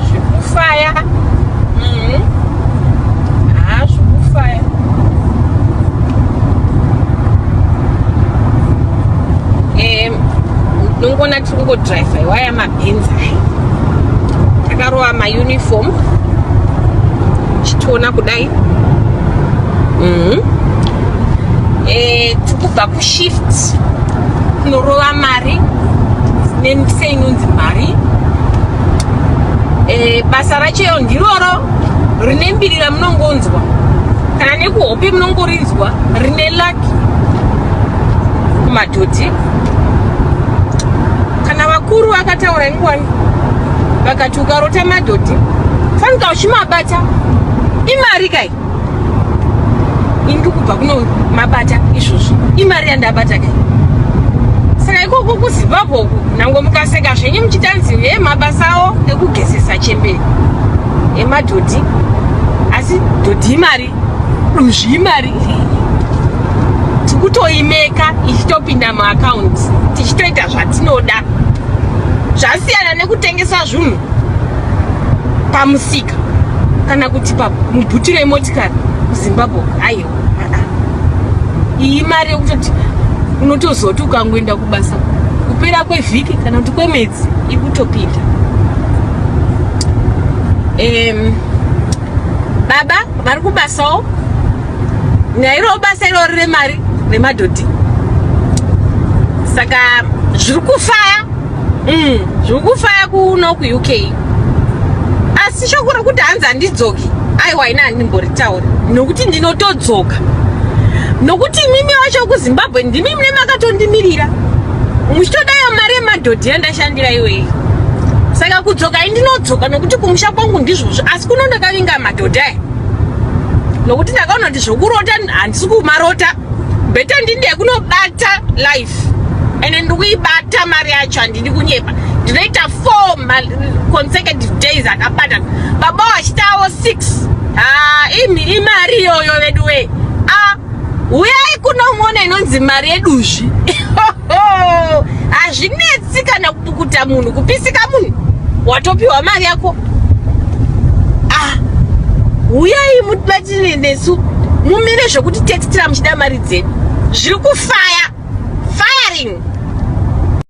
zvikufaya mm-hmm. haa zvikufaya eh, ndongoona tiri kungodriva iwaya mabhenzi ayi takarova mauniform tichitoona kudai mm-hmm. eh, tikubva kushift kunorova mari nemikisa inonzi mari e, basa racheyo ndiroro rine mbiri ramunongonzwa kana nekuhope munongorinzwa rine laki kumadhodhi kana vakuru vakataura ingwani vakati ukarota madhodhi fanika uchimabata imari kai ini ndikubva kuno mabata izvozvo imari yandabata kai saka ikoko kuzimbabwe uku nangwe mukaseka zvenyu muchitanzi he mabasa awo ekugezesa chembere emadhodhi asi dhodhi imari duzvi imari tikutoimeka ichitopinda muakaunti tichitoita zvatinoda zvasiyana nekutengesa zvunhu pamusika kana kuti pamubhutiro yemotikari muzimbabwe aiwa iyi mari yekutoti unotozoti ukangoenda kubasa kupera kwevhiki kana kuti kwemwedzi ikutopinda um, baba vari kubasawo nairowo basa irori remari remadhodhi saka zviri kufaya mm, zvikufaya kuno kuuk asi shoko rokuti hanzi handidzoki aiwa ina handimboritauri nokuti ndinotodzoka nokuti imimi wacho kuzimbabwe ndimi mune makatondimirira muchitodayo mari yemadhodhi yandashandira iwei saka kudzoka indinodzoka nokuti kumusha kwangu ndizvozvo asi kuno ndakavinga madhodhi aya nokuti ndakaona kuti zvokurota handisi kumarota bheta ndinde kunobata life ende ndikuibata mari yacho handidi kunyepa ndinoita four consecutive days akabatana baba wachitawo six ah, imi imari iyoyo vedu wee ah, uyai kunomona inonzi mari yeduzvi hazvinetsi kana Kuta munhu kupisika munhu watopiwa mari yako ah huyai mutibatire nesu mumire zvekuti textira muchida mari dzedu zviri kufaya firing